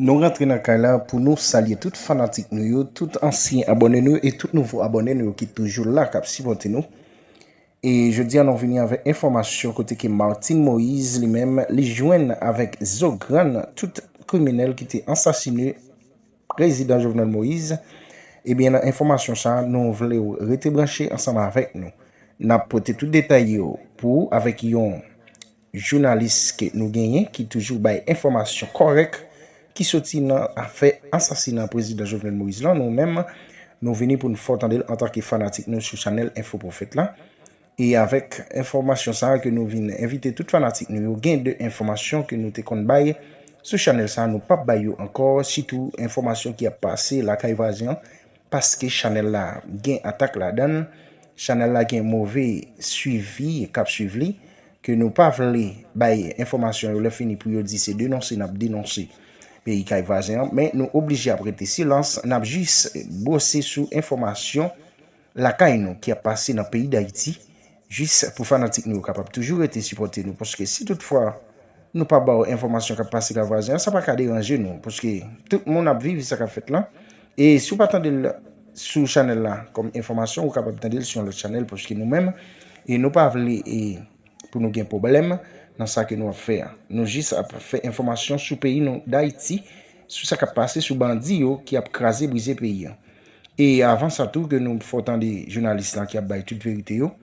Nou rantre nan kay la pou nou salye tout fanatik nou yo, tout ansyen abòne nou yo e tout nouvo abòne nou yo ki toujou la kap sipòte nou. E jodi an nou vini avèk enfòmasyon kote ke Martine Moise li menm li jwenn avèk zo grann tout kriminèl ki te ansasine prezidan Jovenel Moise. Ebyen nan enfòmasyon sa nou vle ou rete branche ansanm avèk nou. Nap pote tout detay yo pou ou avèk yon Jounalis ke nou genyen ki toujou bay enfòmasyon kòrèk ki soti nan afè ansasinan Prezidan Jovenel Moïse lan nou menm nou vini pou n fè w tande l antanke fanatik nou sou chanèl Enfo Profèt la e avèk enfòmasyon sa ke nou vin envite tout fanatik nou yo gen de enfòmasyon ke nou te konn bay sou chanèl sa nou pap bay yo ankò sitou enfòmasyon ki ap pase lakay vwazen an Paske chanèl la gen atak ladann, chanèl la gen move swivi kap swiv li, ke nou pa vle bay enfòmasyon yo lè fini pou yo di se denonse nap denonse peyi kay vwazen an, men nou oblije ap rete silans, nap jis brose sou enfòmasyon lakay nou ki ap pase nan peyi dayiti Jis pou fanatik nou yo kapab toujou rete sipòte nou paske si tout fwa nou pa baw enfòmasyon kap pase ka vwazen an sa paka deranje nou paske tout moun ap viv sa kap fèt lan e si w pa tandel sou chanèl la kòm enfòmasyon ou kapab tandel sou yon lòt chanèl paske nou menm e nou pa vle e pou nou gen pwoblèm nan sa ke nou ap fè an nou jis ap fè enfòmasyon sou peyi nou dayiti sou sa kap pase sou bandi yo ki ap kraze brize peyi an. E avan sa tou ke nou fè w tande jounalis la ki ap bay tout verite yo,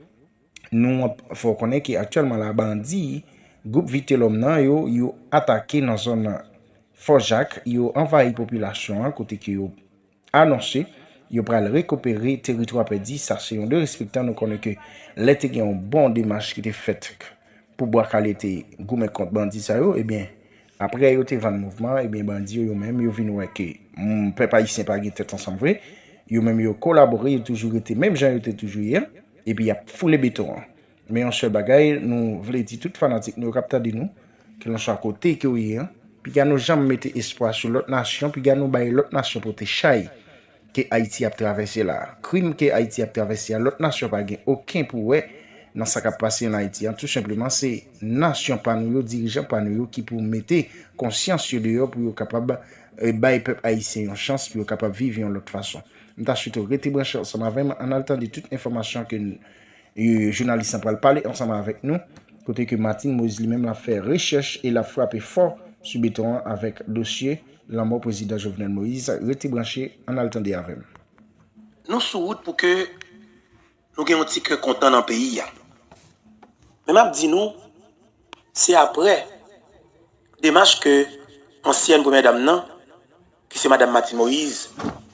nou ap fè w konnen ke aktyèlman la bandi gwoup Vitelhomme nan yo, yo atake nan zòn Fò Jak, yo anvayi popilasyon an kote ke yo anonse yo pral rekipere teritwa pèdi, sa se yon derespektan, nou konnen ke lè te gen yon bon demach ki te fèt pou Bwa Kale te goumen kont bandi sa yo, ebyen Aprè yo te vann mouvman an, ebyen bandi yo yo menm yo vin wè ke pèp ayisyen pa gen tèt ansanm vre, yo menm yo kolabore, yo toujou rete menm jan yo te toujou ye an, epi y ap foule beton an. Men yon sèl bagay nou vle di tout fanatik nou yo k ap tande nou, kelanswa kote ke w ye an, piga nou janm mete espwa sou lòt nasyon, piga nou bay lòt nasyon pote chay. ke Ayiti ap travèse la a. Krim ke Ayiti ap travèse a, lòt nasyon pa gen oken pou wè nan sa k ap pase ann Ayiti an. Tou senpleman, se nasyon pa nou yo, dirijan pa nou yo ki pou mete konsyans yo deyò pou yo kapab bay pèp ayisyen yon chans pou yo kapab viv yon lòt fason. M ta swete w rete branche ansanm avè m, ann al tande tout enfòmasyon ke jounalis lan pral pale ansanm avèk nou, kote ke Martine Moise li menm l ap fè rechèch e l ap frape fò sou beton an avèk dosye Lanmò prezidan Jovenel Moise rete branche ann al tande avè m. Nou sou wout pou ke nou gen yon ti kè kontan nan peyi a. Men m ap di nou se aprè demach ke ansyèn premyè dam nan ki se madam Martine Moise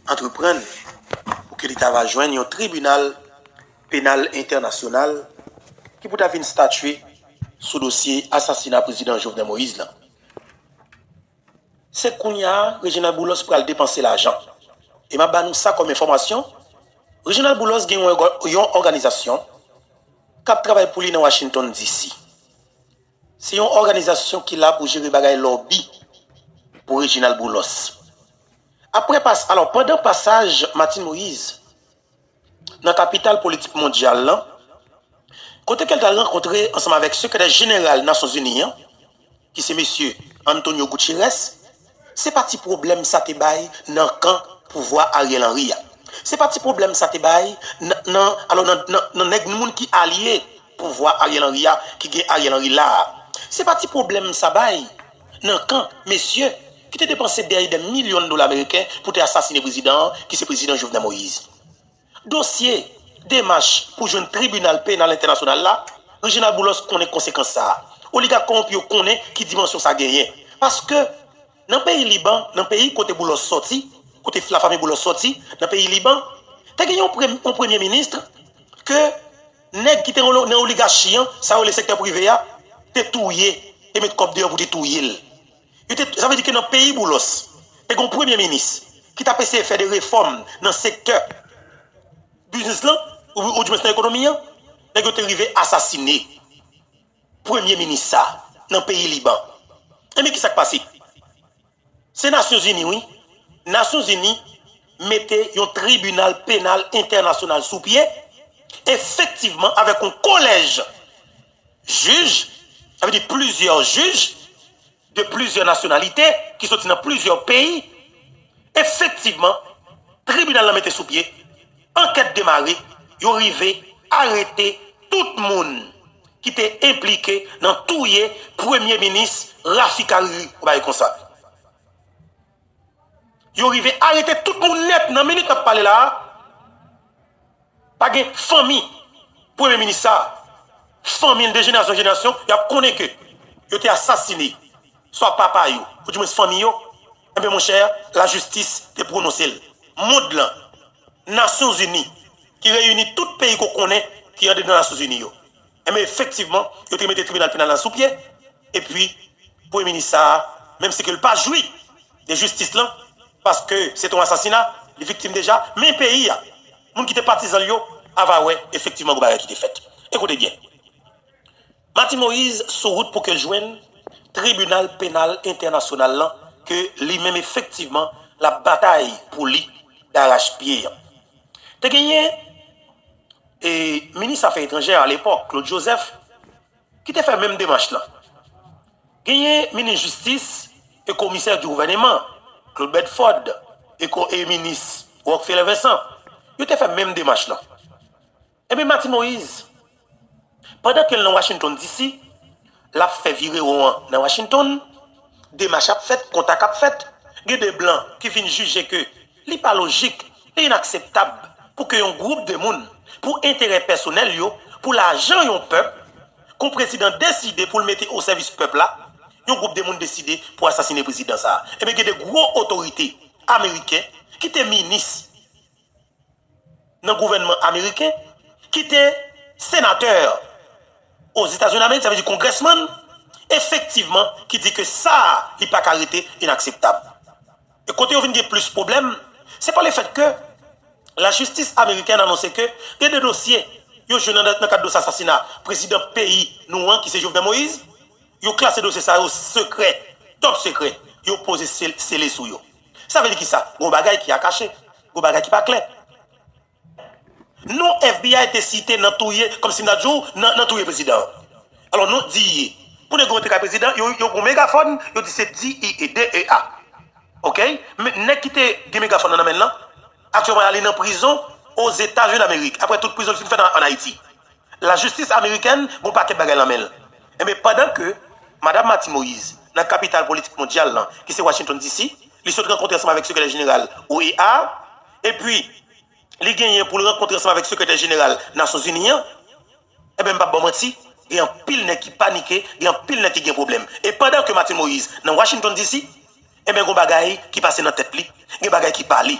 antreprann pou ke li ta va jwenn yon tribinal penal entènasyonal ki pou ta vin statye sou dosye asasina prezidan Jovenel Moise lan. Se kounya Reginald Boulos pral depanse lajan. E m ap ba nou sa kòm enfòmasyon, Reginald Boulos gen yon òganizasyon k ap travay pou li nan Washington DC. Se yon òganizasyon ki la pou jere bagay lòbi pou Reginald Boulos. Aprè pas, alò pandan pasaj Martine Moïse, nan kapital politik mondyal lan, kote ke l t al rankontre ansanm avèk Sekretè Jeneral Nasyon Zini an, ki se Mesye Antonio Guterres, se pa ti pwoblèm sa te bay nan kan pouvwa Ariel Henry a. Se pa ti pwoblèm sa te bay nan, nan, alò nan, nan nèg, moun ki alye. Pouvwa Ariel Henry a ki gen Ariel Henry la a. Se pa ti pwoblèm sa bay nan kan mesye ki te depanse dè e dè milyon dola meriken pou te asasine prezidan an ki se prezidan Jovenel Moïse. Dosye demach pou jwenn tribinal penal entènasyonal la, Reginald Boulos konnen konsekans sa a. Oligak kowonpi yo konnen ki dimansyon sa genyen. Paske nan peyi Liban, nan peyi kote Boulos sòti, kote lafanmi Boulos sòti, nan peyi Liban, te gen yon premye ministre ke. Nèg ki te nan oligachi an, sa yo rele sektè prive a, te touye, te met kòb deyò pou te touye l. Yo te, sa vle di ke nan peyi Boulos, te gen yon premye minis ki t ap eseye fè de refòm nan sektè biznis lan, ou di mwens nan ekonomi an, nèg yo te rive asasine premye minis sa a nan peyi Liban. Enben ki sa k pase? Se Nasyon Zini wi. Nasyon Zini mete yon tribinal penal entènasyonal sou pye, efektivman avèk yon kolèj jij, sa vle di plizyè jij de plizyè nasyonalite ki soti nan plizyè peyi. Efektivman, tribinal lan mete sou pye, ankèt demare, yo rive arete tout moun ki te enplike nan touye premye minis Rafik Hariri ou bagay konsa. Yo rive arete tout moun nèt nan minit map pale la a, pa gen fanmi premye minis sa a, fanmi l de jenerasyon an jenerasyon yap konnen ke yo te asasine swa papa yo ou di mwens fanmi yo, enben monchè lajistis te pwononse l. Mond lan, Nasyon Zini ki reyini tout peyi ke w konnen ki andedan Nasyon Zini yo, enben efektivman yo te mete tribinal penal la sou pye epi Premye Minis sa a, menm si ke l pa jwi de jistis lan paske se te yon asasina, li viktim deja, men peyi a, moun ki te patizan l yo ava wè efektivman gen bagay ki te fèt. Ekoute byen. Martine Moïse sou wout pou ke jwenn Tribinal Penal Entènasyonal lan ke li menm efektivman l ap batay pou li darach pye. Te genyen Minis Afè Etranjè a lepòk, Claude Joseph, ki te fè menm demach lan. Genyen Minis Jistis e Komisè di Gouvèneman, Claude Bedford, e Minis Rockfeller Vincent, yo te fè menm demach lan. Epi Martin Moise, pandan ke l nan Washington DC, l ap fè virewon an nan Washington, demach ap fèt, kontak ap fèt, gen de blan ki vin jije ke li pa lojik, li inakseptab pou ke yon gwoup de moun, pou enterè pèsonèl yo, pou lajan yon pèp, kon prezidan deside pou l mete o sèvis pèp la, yon gwoup de moun deside pou asasine prezidan sa a. Ebyen gen de gwo otorite ameriken ki te minis. nan gouvènman ameriken ki te senatè Ozetazindamerik, sa vle di kongrèsmann, efektivman ki di ke sa a li pa ka rete inakseptab. E kote yo vin gen plis pwoblèm, se pa lefèt ke lajistis amerikèn anonse ke gen de dosye yo jwenn nan kad dosye asasina prezidan peyi nou an ki se Jovenel Moïse, yo klase dosye sa yo sekrè, top sekrè, yo poze sele sou yo. Sa vle di kisa? Gon bagay ki a kache. Gon bagay ki pa klè. Non FBI te site nan touye, kòm si m ta di w, nan touye prezidan an. Alò non DEA. Pou nèg yo rantre kay prezidan, yo pran yon megafòn, yo di se DEA, D-E-A. Ok? Men nèg ki te gen megafòn nan nan men l lan, aktyèlman li nan prizon Ozetazini Damerik, aprè tout prizon li fin fèt an Ayiti. La jistis amerikèn gon pakèt bagay lan menl. Enben pandan ke Madam Martine Moïse nan kapital politik mondyal lan ki se Washington DC, li sot rankontre ansanm avèk sekretè jeneral OEA a, epi li genyen poul rankontre ansanm avèk sekretè jeneral Nasyonzini an, enben mpap baw manti, gen anpil nèg ki panike, gen anpil nèg ki gen pwoblèm. E pandan ke Martine Moïse nan Washington DC, Enben gon bagay ki pase nan tèt li, gen bagay ki pale.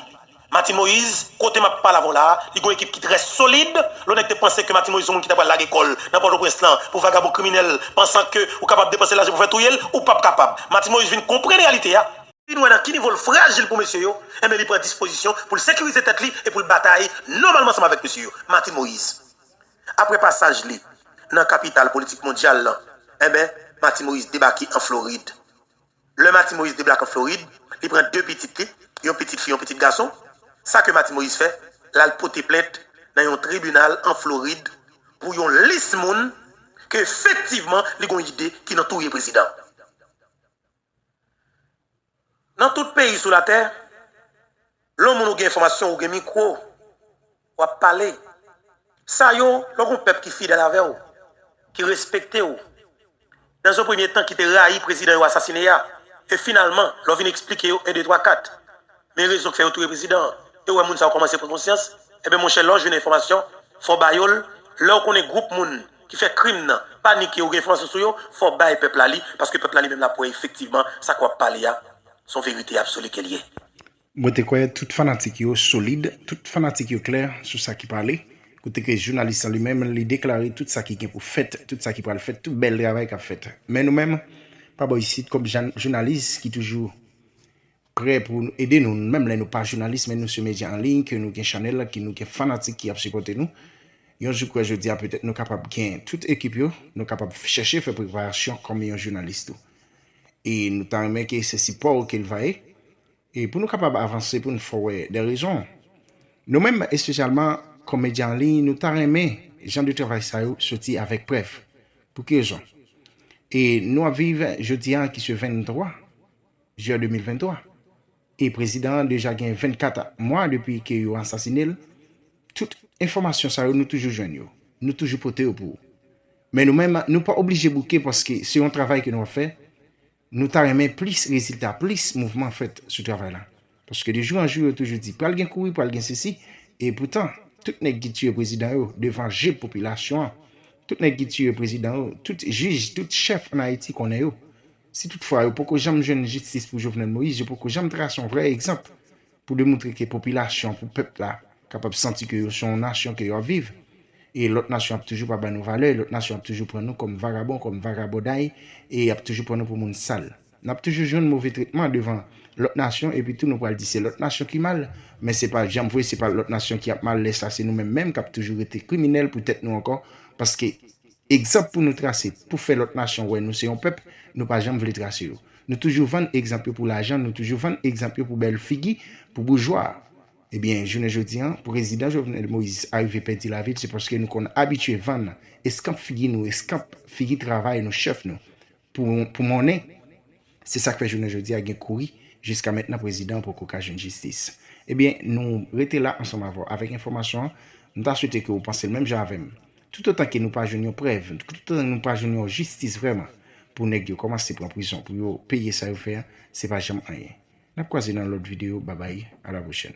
Martine Moise, kote map pale avèw la, li gon ekip ki trè solid, lè w nèg te panse ke Martine Moise se yon moun ki ta pral lage kòl nan Pòtoprens lan pou vagabon kriminèl pansan ke ou kapab depanse lajan pou fè touyel, ou pap kapab. Martine Moise vin konprann reyalite a, vin wè nan ki nivo l frajil pou mesye yo, enben li pran dispozisyon pou l sekirize tèt li e pou l batay nòmalman ansanm avèk mesye yo. Martine Moise. Aprè pasaj li nan kapital politik mondyal lan, enben Martine Moise debake an Florid. Lè Mati Moyiz deblake an Florid, li pran 2 pitit li, yon pitit fi, yon pitit gason. Sa ke Mati Moyiz fè, l al pote plent nan yon tribinal an Florid pou yon lis moun ke efektivman li gon ide ki nan touye prezidan. Nan tout peyi sou latè, Lè yon moun ou gen enfòmasyon ou gen mikwo wap pale sa yo lè w gon pèp ki fidèl avè w ki respekte w nan yon premye tan ki te rayi prezidan yo asasine a e finalman lè w vin eksplike yo 1 2 3 4 men rezon k fè yo touye prezidan an e w wè moun sa yo kòmanse pran konsyans enben monchè lè w jwenn enfòmasyon fò w ba yo l lè w konnen gwoup moun ki fè krim nan panike ou gen enfòmasyon sou yo fò w bay pèp la li paske pèp la li menm lap wè efektivman sa k wap pale a Son verite absoli ke l ye. Mwen te kwè tout fanatik yo solid, tout fanatik yo klè sou sa ki pale, kote ke jounalis lan li menm li deklare tout sa ki gen pou fèt, tout sa ki pral fèt, tout bèl travay k ap fèt. Men nou menm, pa bò isit, kòm jounalis ki toujou prè pou ede nou, menm lè nou pa jounalis men nou se medya an liy, ke nou gen chanèl, ke nou gen fanatik ki ap sipòte nou, yon jou kwè jodi a petèt nou kapab gen tout ekip yo, nou kapab chèche fè preparasyon kòm yon jounalis tou. e nou ta renmen ke se sipò ou ke l va ye e pou nou kapab avanse pou n fè w wè de rezon nou menm espesyalman kòm medya an liy nou ta renmen jan de travay sa yo soti avèk prèv pou ki rezon e nou ap viv jodi a ki se 23 Jiyè 2023. E prezidan an deja gen 24 mwa depi ke yo asasine l, tout enfòmasyon sa yo nou toujou jwenn yo, nou toujou pote yo pou ou. Men nou menm nou pa oblije bouke paske se yon travay ke nou ap fè, nou ta renmen plis rezilta, plis mouvman fèt sou travay la. Paske de jou an jou yo toujou di pral gen kouri, pral gen sesi, e poutan tout nèg ki tiye prezidan yo devan je popilasyon an, tout nèg ki tiye prezidan yo, tout jij, tout chèf an Ayiti konnen yo, Si tout fwa yo poko janm jwenn jistis pou Jovenel Moïse, yo poko janm trase yon vrè egzanp pou demoutre ke popilasyon, pou pèp la kapab santi ke yo se yon nasyon ke yo ap viv. E lòt nasyon ap toujou pa ba nou valè, lòt nasyon ap toujou pran nou kòm vagabon, kòm vagabonday e ap toujou pran nou pou moun sal. N ap toujou jwenn move tretman devan lòt nasyon epi tou nou pral di se lòt nasyon ki mal, men se pa janm vre, se pa lòt nasyon ki ap mal, lè sa se nou menm menm k ap toujou rete kriminèl pou tèt nou ankò paske. Egzanp pou nou trase, pou fè lòt nasyon wè nou se yon pèp, nou pa janm vle trase yo. Nou toujou vann egzanp yo pou lajan, nou toujou vann egzanp yo pou bèl figi, pou boujwa. Ebyen, jounen jodi an, prezidan Jovenel Moïse arive pèdi lavi l se paske nou konn abitye vann eskanp figi nou, eskanp figi travay nou, chèf nou. pou monnen. Se sak fè jounen jodi a gen kouri, jiska mentnan prezidan an poko ka jwenn jistis. Ebyen nou rete la ansanm avè w avèk enfòmasyon an, m ta swete ke ou panse l menm jan avè m. Tout otan ke nou pa jwenn yon prèv, tout otan ke nou pa jwenn yon jistis vrèman pou nèg yo kòmanse pran prizon pou yo peye sa yo fè an, se pa janm anyen. N ap kwaze nan lòt videyo, babay, a la pwochèn.